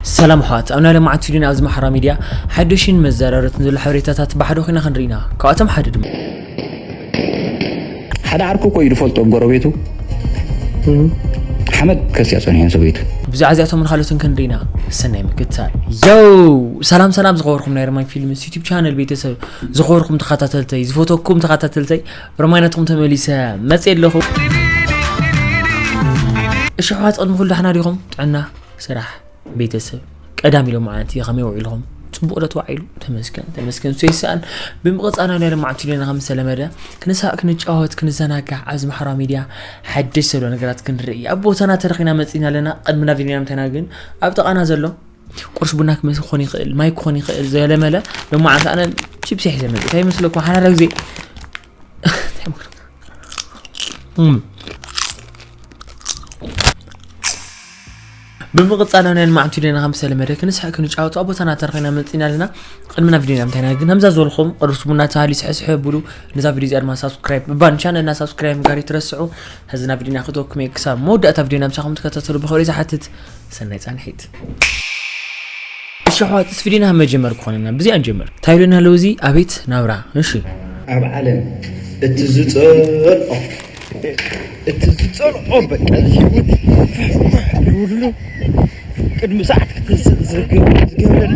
ሰላም ኣሕዋት ኣብ ናይ ለማዓንቲ ቪድዮን ኣብዚ ማሕራዊ ሚድያ ሓዱሽን መዘራረትን ዘሎ ሓበሬታታት ብሓደ ኮይና ክንርኢ ኢና ካብኣቶም ሓደ ድማ። ሓደ ዓርኩ እኮ እዩ ዝፈልጦ ብ ጎረቤቱ ሓመድ ከስያ ጸኒሑ ሰበይቱ። ብዛዕባ እዚኣቶምን ካልኦትን ክንርኢ ኢና ሰናይ ምክትታል። ዮው ሰላም ሰላም ዝኸበርኩም ናይ ረማይ ፊልምስ ዩቲብ ቻነል ቤተሰብ ዝኸበርኩም ተኸታተልተይ ዝፈተኩም ተኸታተልተይ ረማይ ናትኩም ተመሊሰ መጽየ ኣለኹ እሺ ኣሕዋት ቅድሚ ኩሉ ዳሕና ዲኹም ጥዕና ስራሕ ቤተሰብ ቀዳሚ ሎም መዓልቲ ከመይ ውዒልኹም ፅቡቅ ዶ ተባዒሉ ተመስገን ተመስገን እሱ ይሰኣን ብምቕፃል ናይ ሎም መዓልቲ ሌና ከም ዝተለመደ ክንሳቅ ክንጫወት ክንዘናጋዕ ኣብዚ ማሕበራዊ ሚድያ ሓደሽ ዘሎ ነገራት ክንርኢ ኣብ ቦታና ተረኺና መፂና ኣለና ቅድሚ ናብ ዜና ምተና ግን ኣብ ጥቃና ዘሎ ቁርስ ቡና ክመስ ክኾን ይኽእል ማይ ክኾን ይኽእል ዘለመለ ሎም መዓልቲ ኣነ ቺፕሲ ሒዘ መፅ እንታይ ይመስለኩም ሓዳረ ግዜ እም ብምቕጻል ኣነ ኣልማዕንቲ ዲና ከም ዝተለመደ ክንስሐ ክንጫወቱ ኣብ ቦታና ተረኺና መጺና ኣለና ቅድሚ ናብ ቪድዮና ምንታይና ግን ከምዛ ዝበልኩም ቅዱስ ቡና ተሃሊ ስሕስሐ ብሉ ነዛ ቪድዮ እዚኣ ድማ ሳብስክራይብ ምባል ቻነልና ሳብስክራይብ ጋር ይትረስዑ ሕዚ ናብ ቪድዮና ክተወኩም እየ ክሳብ መወዳእታ ቪድዮና ምሳኹም ትከታተሉ ብኸብሪ ዝሓትት ሰናይ ጻንሒት እሺ ኣሕዋትስ ቪድዮና ካብ መጀመር ክኾነና ብዚኣ ንጀምር ታይሎና ኣለዉ እዚ ኣቤት ናብራ እሺ ኣብ ዓለም እቲ ዝጸልኦ እቲ ዝጸልኦ በቃ ህይወት ፍሕፍሕ ይብሉ ቅድሚ ሰዓት ክትንስእ ዝገብረኒ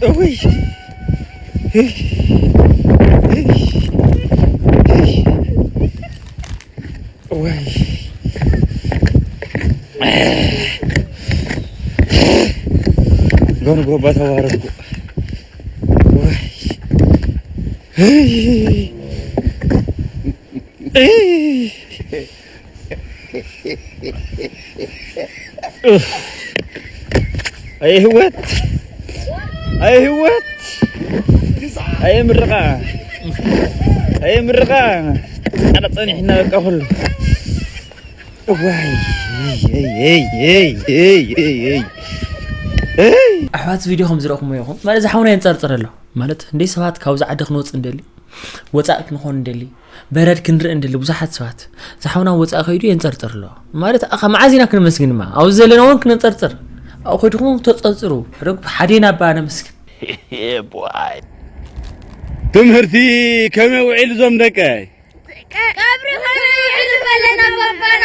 እውይ ወይ ጎንጎባ ተዋረድኩ። ኣየ ህይወት ኣየ ህይወት ኣየ ምርቓ ኣየ ምርቓ ኣነ ፀኒሕና በቃ ኩሉ እዋይ ኣሕዋት ቪድዮ ከም ዝረእኹምዎ ኢኹም ማለት እዚ ሓውና የንፀርፅር ኣሎ ማለት እንዴ ሰባት ካብዚ ዓዲ ክንወፅ እንደሊ ወፃእ ክንኾን እንደሊ በረድ ክንርኢ እንደሊ ብዙሓት ሰባት ዝሓውና ወፃእ ከይዱ የንፀርፅር ኣሎ ማለት ካብ መዓዝ ኢና ክንመስግን ድማ ኣብዚ ዘለና እውን ክነንፀርፅር ኣብኡ ከድኹም ተፀርፅሩ ረግ ሓዴና ኣባ ነመስግን ትምህርቲ ከመይ ውዒሉ ዞም ደቀይ ቀብሪ ከመይ ውዒሉ በለና ባባና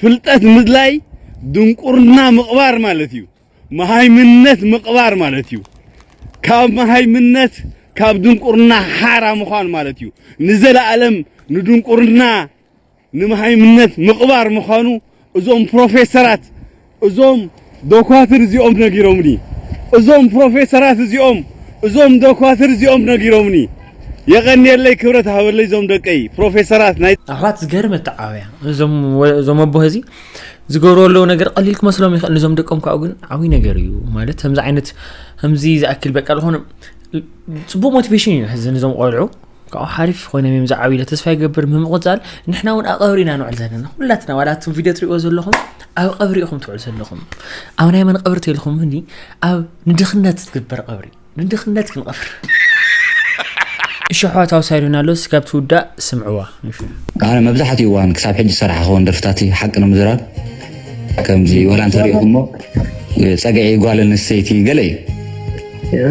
ፍልጠት ምድላይ ድንቁርና ምቕባር ማለት እዩ። መሃይምነት ምቕባር ማለት እዩ። ካብ መሃይምነት ካብ ድንቁርና ሓራ ምዃን ማለት እዩ። ንዘለኣለም ንድንቁርና ንመሃይምነት ምቕባር ምዃኑ እዞም ፕሮፌሰራት እዞም ዶኳትር እዚኦም ነጊሮምኒ እዞም ፕሮፌሰራት እዚኦም እዞም ዶኳትር እዚኦም ነጊሮምኒ የቀንየለይ ክብረት ሃበለይ እዞም ደቀይ ፕሮፌሰራት ናይ ኣሕዋት ዝገርም ኣተዓባብያ እዞም ኣቦ ህዚ ዝገብርዎ ኣለዉ ነገር ቀሊል ክመስሎም ይኽእል ንዞም ደቆም ካብኡ ግን ዓብይ ነገር እዩ ማለት ከምዚ ዓይነት ከምዚ ዝኣክል በቃ ዝኾነ ፅቡቅ ሞቲቬሽን እዩ ሕዚ ንዞም ቆልዑ ካብኡ ሓሪፍ ኾይነ ሜም ዝዓብ ኢለ ተስፋ ይገብር ብምቕፃል ንሕና እውን ኣብ ቀብሪ ኢና ንውዕል ዘለና ኩላትና ዋላ እቱም ቪድዮ ትሪእዎ ዘለኹም ኣብ ቀብሪ ኢኹም ትውዕል ዘለኹም ኣብ ናይ መን ቀብሪ ተልኹም እኒ ኣብ ንድኽነት ዝግበር ቀብሪ ንድኽነት ክንቐብር እሸሕዋ ታውሳይዶና ኣሎ ስጋብ ትውዳእ ስምዕዋ ኣነ መብዛሕትኡ እዋን ክሳብ ሕጂ ዝሰራሕ ክኸውን ደርፍታት ሓቂ ንምዝራብ ከምዚ ወላ እንተሪእኹሞ ፀግዒ ጓል ኣንስተይቲ ገለ እዩ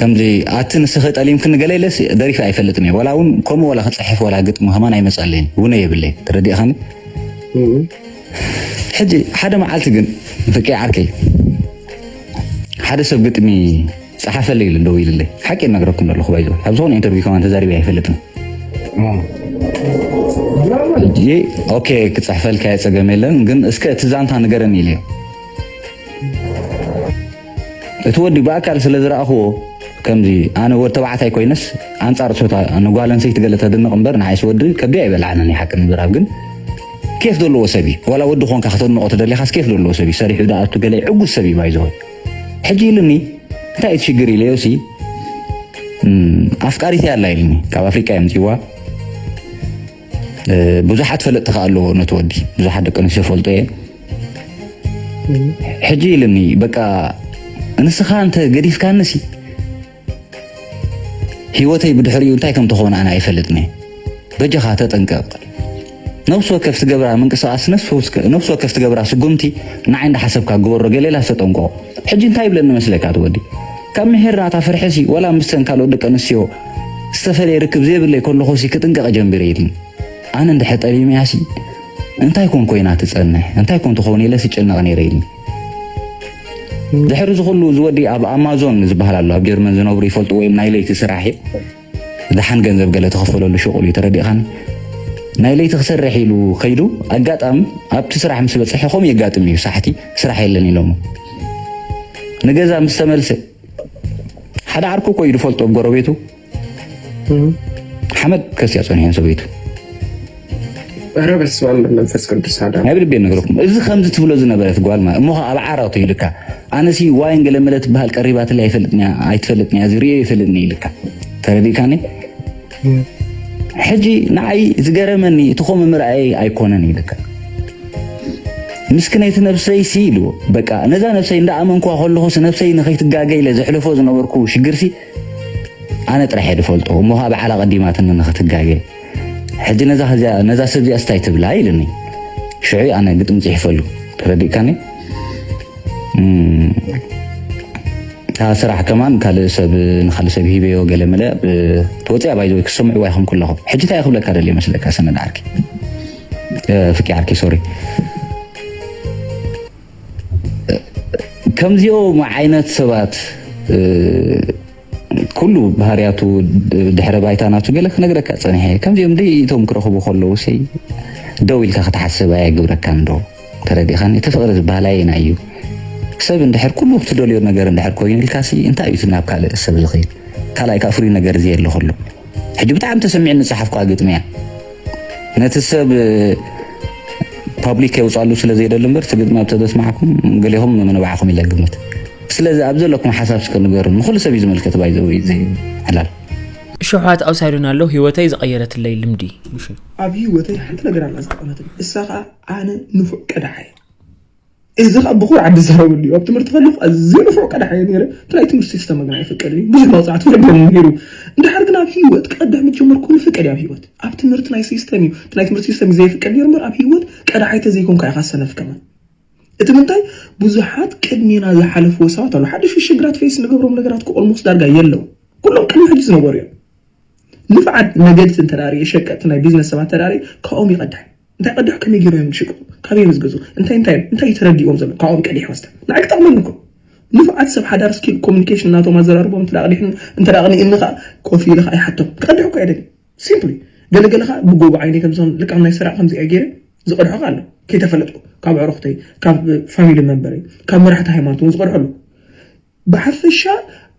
ከምዚ ኣቲ ንስኺ ጠሊምክኒ ገለ ኢለ ደሪፈ ኣይፈልጥን እየ ወላ እውን ከምኡ ወላ ክፅሕፍ ወላ ግጥሚ ከማን ኣይመፀለይን ውነ የብለይ ተረዲእኻኒ ሕጂ ሓደ መዓልቲ ግን ፍቄ ዓርከይ ሓደ ሰብ ግጥሚ ፀሓፈለይ ኢሉ ደው ኢልለይ ሓቂ ይነግረኩም ኣለኹ ባይዞ ኣብ ዝኾነ ኢንተርቪው ከማን ተዛሪበ ኣይፈልጥን ሕጂ ኦኬ ክፅሕፈልካ የፀገም የለን ግን እስከ እቲ ዛንታ ንገረኒ ኢለዮ እቲ ወዲ ብኣካል ስለ ዝረኣኹዎ ከምዚ ኣነ ወድ ተባዕታይ ኮይነስ ኣንጻር ጾታ ንጓል ኣንሰይቲ ገለ ተድንቕ እምበር ንዓይስ ወዲ ከብደይ ኣይበልዓንን እዩ ሓቂ ንምዝራብ ግን ኬፍ ዘለዎ ሰብ እዩ ዋላ ወዲ ኮንካ ከተድንቖ ተደሊኻስ ኬፍ ዘለዎ ሰብ እዩ ሰሪሑ ደኣቱ ገለ ዕጉስ ሰብ እዩ ባይዘወ ሕጂ ኢሉኒ እንታይ እቲ ሽግር ኢለዮሲ ኣፍቃሪተይ ኣላ ኢልኒ ካብ ኣፍሪቃ እዮም ጽዋ ብዙሓት ፈለጥቲ ከ ኣለዎ ነቲ ወዲ ብዙሓት ደቂ ኣንስትዮ ፈልጦ እየ ሕጂ ኢልኒ በቃ እንስኻ እንተ ገዲፍካኒ ሲ ሂወተይ ብድሕሪኡ እንታይ ከም ተኾነ ኣነ ኣይፈልጥን እየ በጃኻ ተጠንቀቕ ነብሲ ወከፍ ትገብራ ምንቅስቃስ ነብሲ ወከፍ ትገብራ ስጉምቲ ንዓይ እንዳሓሰብካ ግበሮ ገሌላ ተጠንቆ ሕጂ እንታይ ይብለኒ መስለካ ትወዲ ካብ ምሕራታ ፍርሒሲ ወላ ምስተን ካልኦት ደቂ ኣንስትዮ ዝተፈለየ ርክብ ዘይብለይ ከለኹሲ ክጥንቀቕ ጀምቢረ ኢልኒ። ኣነ እንድሕር ጠሊመያሲ እንታይ ኮን ኮይና ትጸንሕ፣ እንታይ ኮን ትኸውን ኢለሲ ይጭነቕ ነይረ ኢልኒ። ድሕሪ እዚ ኩሉ እዚ ወዲ ኣብ ኣማዞን ዝበሃል ኣሎ ኣብ ጀርመን ዝነብሩ ይፈልጥዎ እዮም ናይ ለይቲ ስራሕ እዩ። ደሓን ገንዘብ ገለ ተኸፈለሉ ሸቑል እዩ ተረዲእኻኒ ናይ ለይቲ ክሰርሕ ኢሉ ከይዱ ኣጋጣሚ ኣብቲ ስራሕ ምስ በፅሐ ከምኡ የጋጥም እዩ ሳሕቲ ስራሕ የለን ኢሎሞ ንገዛ ምስ ተመልሰ ሓደ ዓርኩ እኮ እዩ ዝፈልጦ ጎረቤቱ ሓመድ ከስያ ፀኒሐን ሰበይቱ ኧረ በስመ አብ መንፈስ ቅዱስ አዳ ናይ ብልቤ ነግረኩም እዚ ከምዚ ትብሎ ዝነበረት ጓል ማለት እሞ ኣብ ዓራቱ ይልካ ኣነሲ ዋይን ገለመለ ትበሃል ቀሪባትለ ኣይፈልጥንያ ኣይትፈልጥንያ እዚ ሪኦ ይፈልጥኒ ይልካ ተረዲእካኒ ሕጂ ንዓይ ዝገረመኒ እቲ ከምኡ ምርኣየይ ኣይኮነን ይልካ ምስክነይቲ ነብሰይሲ ኢልዎ በቃ ነዛ ነብሰይ እንዳኣመንኳ ከለኹስ ነብሰይ ንኸይትጋገ ኢለ ዘሕልፎ ዝነበርኩ ሽግርሲ ኣነ ጥራሕ እየ ዝፈልጦ እሞ ከዓ በዓላ ቀዲማትኒ ንኽትጋገ ሕጂ ነዛ ሰብ እዚኣ ስታይ ትብላ ኢልኒ ሽዑ ኣነ ግጥሚ ጽሒፈሉ ተረዲእካኒ እታ ስራሕ ከማን ካልእ ሰብ ንካልእ ሰብ ሂበዮ ገለመለ ተወፅያ ባይዘወይ ክሰምዕዋ ይኹም ኩለኹም ሕጂ እንታይ ክብለካ ደልየ መስለካ ሰነድ ዓርኪ ፍቂ ዓርኪ ሶሪ ከምዚኦም ዓይነት ሰባት ኩሉ ባህርያቱ ድሕረ ባይታ ናቱ ገለ ክነግረካ ጸኒሐ ከምዚኦም ደይቶም ክረኽቡ ከለዉ ሰይ ደው ኢልካ ክትሓስብ ኣየግብረካን ዶ ተረዲኻኒ እቲ ፍቕሪ ዝበሃል ኣየናይ እዩ ሰብ እንድሕር ኩሉ ክትደልዮ ነገር እንድሕር ኮይኑ ኢልካሲ እንታይ እዩ እቲ ናብ ካልእ ሰብ ዝኸይድ ካልኣይ ከኣ ፍሉይ ነገር ዘየለ ከሎ ሕጂ ብጣዕሚ ተሰሚዕኒ ዝጸሓፍኩዋ ግጥሚ እያ ነቲ ሰብ ፓብሊክ ከይውጻሉ ስለ ዘይደሊ እምበር እቲ ግጥሚ ኣብ ተደስማዕኩም ገሌኹም ምንባዕኹም ኢለ ግምት ስለዚ ኣብ ዘለኩም ሓሳብ እስከ ንገሩን ንኹሉ ሰብ እዩ ዝምልከት ባይ ዘ ወይ ዘይ ዕላል እሾሓት ኣብ ሳይዶን ኣሎ ህይወተይ ዝቐየረትለይ ልምዲ ምሽ ኣብ ህይወተይ ሓንቲ ነገር ኣላ ዝተቐመትን እሳ ኸኣ ኣነ ንፉዕ ቀዳሓ እየ። እዚ ከዓ ብኩር ዓዲ ዝዛረበሉ እዩ ኣብ ትምህርቲ ከለኩ ኣዝየ ንፉዕ ቀዳሕ እየ ነይረ እቲ ናይ ትምህርቲ ሲስተም ግና ኣይፍቀድን እዩ ብዙሕ መቅፃዕቲ ወሪደኒ ነይሩ እንድሕር ግን ኣብ ሂወት ቀዳሕ ምስ ጀመርኩ ኩሉ ፍቀድ እዩ ኣብ ሂወት ኣብ ትምህርቲ ናይ ሲስተም እዩ እቲ ናይ ትምህርቲ ሲስተም እዩ ዘይፍቀድ ነይሩ እምበር ኣብ ሂወት ቀዳሓይ ተዘይኮንካ ኢካ ሰነፍ ከማን እቲ ምንታይ ብዙሓት ቅድሜና ዝሓለፍዎ ሰባት ኣሉ ሓደሽ ሽግራት ፌስ ንገብሮም ነገራት ክኦልሞስ ዳርጋ የለው ኩሎም ቅድሚ ሕጂ ዝነበሩ እዮም ንፍዓት ነገድቲ እንተዳርየ ሸቀጥቲ ናይ ቢዝነስ ሰባት ተዳርየ ካብኦም ይቀዳሕ እንታይ ቅዳሕ ከመይ ገይሮም እዮም ዝሽቅሉ ካበይ እዮም ዝገዝኡ እንታይ እንታይ እዮም እንታይ እዩ ተረዲእዎም ዘሎ ካብኦም ቀዲሕካ እስተ ንዓይ ክጠቕመኒ እኮ ንፉዓት ሰብ ሓዳር ስኪል ኮሙኒኬሽን ናቶም ኣዘራርቦም እንተ ቀዲሕኒ እንተ ኣቕኒእኒ ከዓ ኮፍ ኢለ ከዓ ይሓቶም ክቀድሕ እኮ ኣይደልን ሲምፕሊ ገለ ገለ ከዓ ብጎቦ ዓይነይ ከምዞም ልቃም ናይ ሰራቕ ከምዚኣ ገይረ ዝቐድሖ ከዓ ኣሎ ከይተፈለጥኩ ካብ ኣዕሩኽተይ ካብ ፋሚሊ መንበረይ ካብ መራሕቲ ሃይማኖት እውን ዝቐድሖ ኣሎ ብሓፈሻ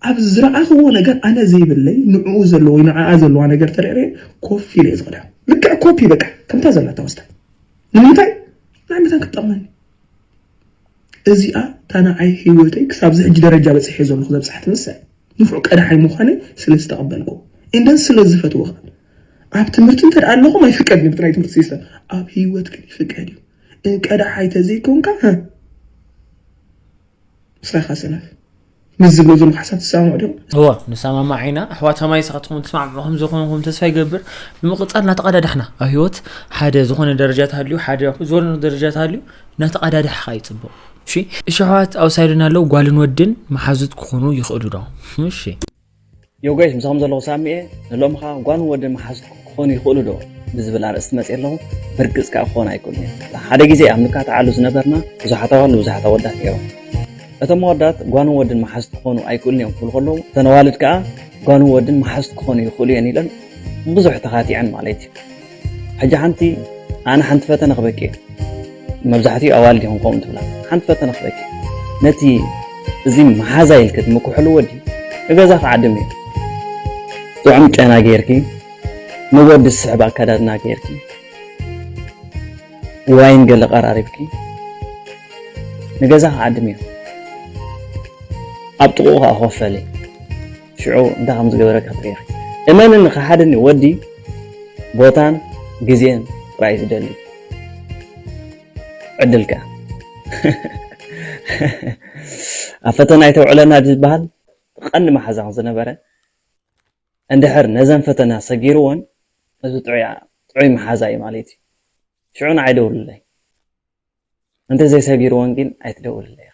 ኣብ ዝረኣኽዎ ነገር ኣነ ዘይብለይ ንዕኡ ዘለዎ ወይ ንዓኣ ዘለዋ ነገር ተረርየ ኮፍ ኢለ እየ ዝኽዳ ልክዕ ኮፒ በቃ ከምታ ዘላታ ወስዳ ንምንታይ ናይ መታን ክትጠቕመኒ እዚኣ እታ ንዓይ ህይወተይ ክሳብ ዝሕጂ ደረጃ በፂሐ ዘለኹ ዘብፅሓትኒ እሳ እያ ንፉዕ ቀዳሓይ ምዃነይ ስለ ዝተቐበልኩ እንደን ስለ ዝፈትዎ ከዓ ኣብ ትምህርቲ እንተ ኣለኹም ኣይፍቀድን እዩ ብናይ ትምህርቲ ሲስተም ኣብ ህይወት ግን ይፍቀድ እዩ ቀዳሓይ ተዘይኮንካ ምስራኻ ሰነፍ ምስ ዝብሎ ዘለኹ ሓሳብ ትሰማምዑ ዶ? እወ ንሰማማዕ ኢና ኣሕዋት ሰማይ ንስኻትኩም ትሰማምዑ ከም ዝኾንኩም ተስፋ ይገብር ብምቕጻል እናተቐዳዳሕና ኣብ ህይወት ሓደ ዝኾነ ደረጃ ተሃልዩ ሓደ ዝኾነ ደረጃ ተሃልዩ እናተቐዳዳሕኻ እዩ ጽቡቕ እሺ እሺ ኣሕዋት ኣብ ሳይድና ኣለዉ ጓልን ወድን መሓዙት ክኾኑ ይኽእሉ ዶ እሺ ዮገሽ ምሳኹም ዘለኹ ሳሚኤ ንሎምኻ ጓልን ወድን መሓዙት ክኾኑ ይኽእሉ ዶ ብዝብል ኣርእስቲ መፅየ ኣለኹ ብርግፅ ከዓ ክኾኑ ኣይክእሉን እዮም ሓደ ግዜ ኣብ ንካትዓሉ ዝነበርና ብዙሓት ኣዋልድ ብዙሓት ኣወዳት ነይሮም እቶም ኣወዳት ጓልን ወድን መሓዙት ክኾኑ ኣይክእሉን እዮም ክብሉ ከለዉ እተን ኣዋልድ ከዓ ጓልን ወድን መሓዙት ክኾኑ ይኽእሉ እየን ኢለን ብዙሕ ተኻቲዐን ማለት እዩ ሕጂ ሓንቲ ኣነ ሓንቲ ፈተነ ክበኪ እየ መብዛሕትኡ ኣዋልድ ይኹን ከምኡ ትብላ ሓንቲ ፈተነ ክበኪ ነቲ እዚ መሓዛ ኢልኪ ትምክሕሉ ወዲ ንገዛ ክዓድም እዩ ጥዑም ጨና ጌርኪ ንወዲ ዝስሕብ ኣከዳድና ጌርኪ ዋይን ገለ ቀራሪብኪ ንገዛ ክዓድም እዩ ኣብ ጥቑኡ ከዓ ኮፈሊ ሽዑ እንታይ ከም ዝገበረካ ትሪኢኺ። እመንኒ ክሓድኒ ወዲ ቦታን ግዜን ጥራይ እዩ ዝደሊ። ዕድል ከኣ ኣብ ፈተና ኣይተውዕለና ዝበሃል ቀንዲ መሓዛ ከም ዝነበረ እንድሕር ነዘን ፈተና ሰጊርወን እዚ ጥዑይ መሓዛ እዩ ማለት እዩ። ሽዑ ንዓይ ደውልለይ። እንተዘይሰጊርወን ግን ኣይትደውልለይ።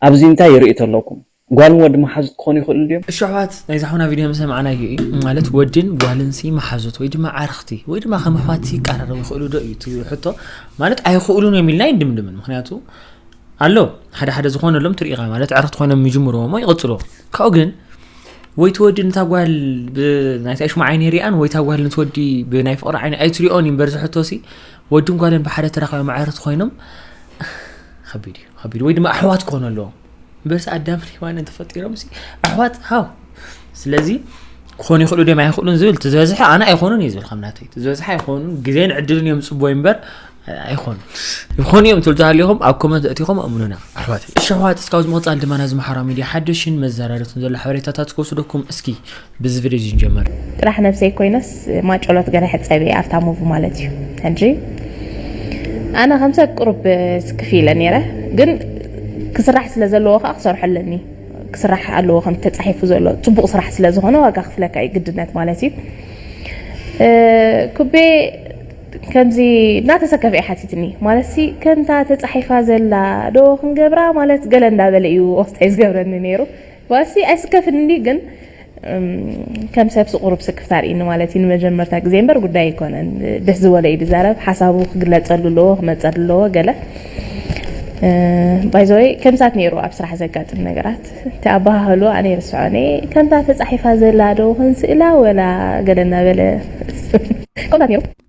ኣብዚ እንታይ ይርኢ ተለኩም ጓልን ወዲ መሓዙት ክኮኑ ይክእሉ ድዮም። እሺ ኣሕዋት ናይዛ ሓውና ቪድዮ ምሰማዕናዮ እዩ ማለት ወድን ጓልን ሲ መሓዙት ወይ ድማ ዓርኽቲ ወይ ድማ ከም ኣሕዋት ሲ ይቀራረቡ ይኽእሉ ዶ እዩ እቲ ሕቶ ማለት ኣይኽእሉን እዮም ኢልና ይድምድምን ምክንያቱ ኣሎ ሓደ ሓደ ዝኾነሎም ትርኢኻ ማለት ዕርኽቲ ኮይኖም ይጅምርዎ እሞ ይቕፅልዎ ካብኡ ግን ወይ ትወዲ ነታ ጓል ብናይታ ሽሙ ዓይኒ ሪኣን ወይ ታ ጓል ንትወዲ ብናይ ፍቕሪ ዓይኒ ኣይትሪኦን እዩ እምበር ዝሕቶ ሲ ወድን ጓልን ብሓደ ተራኺቦም ኣዕርኽቲ ኮይኖም ከቢድ እዩ ከቢድ ወይ ድማ ኣሕዋት ክኾኑ ኣለዎም በርሲ ኣዳም ሪዋንን ተፈጢሮም ኣሕዋት ሃው ስለዚ ክኾኑ ይኽእሉ ድም ኣይኽእሉን ዝብል እቲ ዝበዝሐ ኣነ ኣይኮኑን እዩ ዝብል ከም ናተይ እቲ ዝበዝሐ ኣይኮኑን ግዜን ዕድልን እዮም ፅቡይ እምበር ኣይኮኑን ይኾኑ እዮም ትብል ተሃሊኹም ኣብ ኮመንት እቲኹም ኣምኑና ኣሕዋት እሺ ኣሕዋት እስካብ ዝምቕፃል ድማ ናዚ ማሕበራዊ ሚድያ ሓደሽን መዘራረትን ዘሎ ሓበሬታታት ክወስደኩም እስኪ ብዚ ቪድዮ እዚ ንጀምር። ጥራሕ ነብሰይ ኮይነስ ማጨሎት ገለ ሕጸብ እየ ኣብታ ሙቭ ማለት እዩ ሕጂ ኣነ ከም ሰብ ቅሩብ ስክፍ ኢለ ነይረ ግን ክስራሕ ስለ ዘለዎ ከኣ ክሰርሖ ኣለኒ ክስራሕ ኣለዎ ከም ተጻሒፉ ዘሎ ጽቡቕ ስራሕ ስለ ዝኾነ ዋጋ ክፍለካ እዩ ግድነት ማለት እዩ ኩቤ ከምዚ እናተሰከፈ እዩ ሓቲትኒ ማለት ሲ ከምታ ተጻሒፋ ዘላ ዶ ክንገብራ ማለት ገለ እንዳበለ እዩ ወስታይ ዝገብረኒ ነይሩ ዋሲ ኣይስከፍንድዩ ግን ከም ሰብ ስቁሩብ ስክፍታ ኣርኢኒ ማለት እዩ ንመጀመርታ ግዜ እምበር ጉዳይ ኣይኮነን ደስ ዝበሎ እዩ ድዛረብ ሓሳቡ ክግለጸሉ ኣለዎ ክመጸሉ ኣለዎ ገለ ባይዘወይ ከምሳት ነይሩ ኣብ ስራሕ ዘጋጥም ነገራት እቲ ኣባሃህሉ ኣነ ይርስዖኒ ከምታ ተጻሒፋ ዘላ ዶ ክንስእላ ወላ ገለ እናበለ ከምታት ነይሩ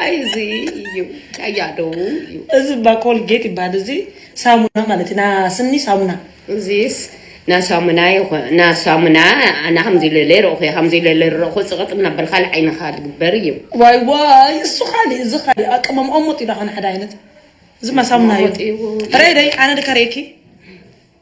ኣይ እዚ እዩ ቀያዶ እዩ እዚ እባ ኮልጌት ይበሃል እዚ ሳሙና ማለት እዩ ና ስኒ ሳሙና እዚስ ናሳሙና ይኹን ናሳሙና ኣነ ከምዚ ኢለ ለይረእኹ እየ ከምዚ ኢለ ለይረእኹ ፅቕጥ እናበልካ ኣብ ዓይንኻ ዝግበር እዩ ዋይ ዋይ እሱ ካሊእ እዚ ካሊእ ኣቀማም ኦሞጥ እዩ ዳኾነ ሓደ ዓይነት እዚ ማሳሙና እዩ ረይ ረይ ኣነ ድካ ርእኪ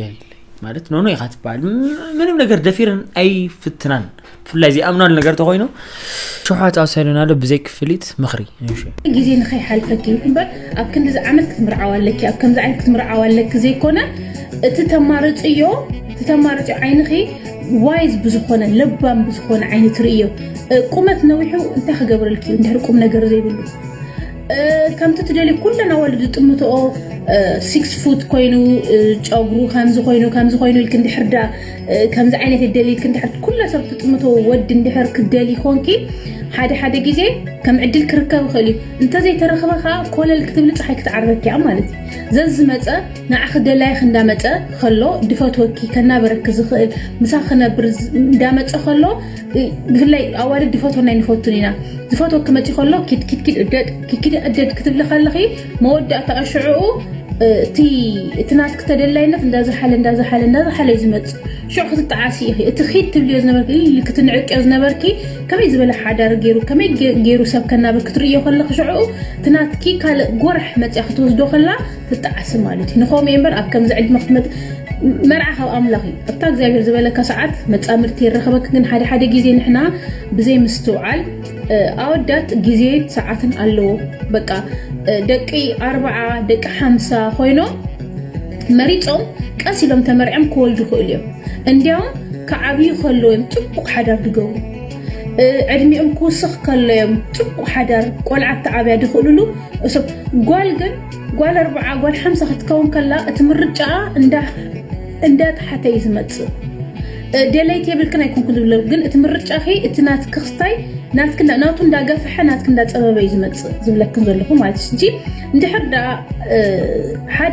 የለይ ማለት ኖኖ ኢኻ ትበሃል ምንም ነገር ደፊረን ኣይፍትናን ብፍላይ ዘይኣምናሉ ነገር ተኮይኑ ሸውሓት ኣውሳይዶን ኣሎ ብዘይ ክፍሊት ምኽሪ ግዜ ንኸይሓልፈኪ እምበር ኣብ ክንዲዚ ዓመት ክትምርዓው ኣለኪ ኣብ ከምዚ ዓይነት ክትምርዓው ኣለኪ ዘይኮነ እቲ ተማርፅዮ እቲ ተማርፅዮ ዓይንኺ ዋይዝ ብዝኾነ ለባም ብዝኾነ ዓይኒ ትርእዮ ቁመት ነዊሑ እንታይ ክገብረልኪ እዩ እንድሕር ቁም ነገር ዘይብሉ ከምቲ ትደልዩ ኩለን ኣዋልድ ዝጥምትኦ ሲክስ ፉት ኮይኑ ጨጉሩ ከምዚ ኮይኑ ከምዚ ኮይኑ ኢልክ እንድሕር ዳ ከምዚ ዓይነት ይደሊ ኢልክ እንድሕር ኩላ ሰብ ትጥምቶ ወዲ እንድሕር ክደሊ ኮንኪ ሓደ ሓደ ግዜ ከም ዕድል ክርከብ ይኽእል እዩ እንተዘይተረኽበ ከዓ ኮለል ክትብሊ ፀሓይ ክትዓርበኪ እያ ማለት እዩ ዘዝመፀ ንዓኺ ደላይኽ እንዳመፀ ከሎ ድፈትወኪ ከናበረኪ ዝኽእል ምሳ ክነብር እንዳመፀ ከሎ ብፍላይ ኣዋልድ ዝፈትወና ኣይንፈቱን ኢና ዝፈትወ ክመጪ ከሎ ኪድኪድኪድ እደድ ኪድኪድ እደድ ክትብሊ ከለኺ መወዳእታኣ ሽዕኡ እቲ እቲ ናትኪ ተደላይነት እንዳዝሓለ እንዳዝሓለ እንዳዝሓለ እዩ ዝመፅእ ሽዑ ክትጠዓሲ ኢኺ እቲ ኺድ ትብልዮ ዝነበርኪ ኢሊ ክትንዕቅዮ ዝነበርኪ ከመይ ዝበለ ሓዳር ገይሩ ከመይ ገይሩ ሰብ ከናብር ክትርእዮ ከለኺ ሽዕኡ እቲ ናትኪ ካልእ ጎራሕ መፅያ ክትወስዶ ከላ ክትጠዓሲ ማለት እዩ ንኸምኡ እየ እምበር ኣብ ከምዚ ዕድመ ክትመፅ መርዓ ካብ ኣምላኽ እዩ ኣብታ እግዚኣብሔር ዝበለካ ሰዓት መፃምድቲ የራኸበክ ግን ሓደ ሓደ ግዜ ንሕና ብዘይ ምስትውዓል ኣወዳት ግዜን ሰዓትን ኣለዎ በቃ ደቂ ኣርባዓ ደቂ ሓምሳ ኮይኖም መሪፆም ቀስ ኢሎም ተመርዕም ክወልዱ ይኽእሉ እዮም እንዲያውም ክዓብዩ ከለዉ እዮም ፅቡቕ ሓዳር ድገብሩ ዕድሚኦም ክውስኽ ከሎ እዮም ፅቡቕ ሓዳር ቆልዓ ተዓብያ ድኽእልሉ እሶም ጓል ግን ጓል ኣርብዓ ጓል ሓምሳ ክትከውን ከላ እቲ ምርጫኣ እንዳ ጥሓተ እዩ ዝመፅእ ደለይቲ የብልክን ኣይኮንኩን ዝብለ ግን እቲ ምርጫኺ እቲ ናትኪ ክስታይ ናትኪ ናቱ እንዳገፈሐ ናትኪ እንዳፀበበ እዩ ዝመፅእ ዝብለክን ዘለኹ ማለት እዩ እንድሕር ደኣ ሓደ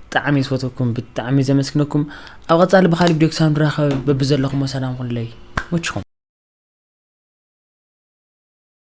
ብጣዕሚ ዝፈትወኩም ብጣዕሚ ዘመስግነኩም ኣብ ቀጻሊ ብካሊ ቪድዮ ክሳብ ንራኸብ በብዘለኹሞ ሰላም ኩለይ መችኹም